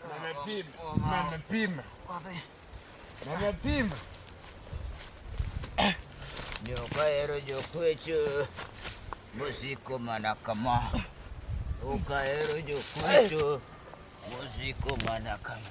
Mehmet Pim. Mehmet Pim. Mehmet Pim. Jokaero jokwecho mosiko mana kama. Jokaero jokwecho mosiko mana kama.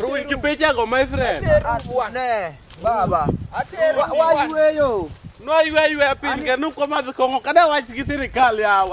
Rui kipeti ako my friend. Atene. Baba. Atene. Wajue yo. No yue yue pinge nuko madhi kongo kada wach gi sirikal yawa.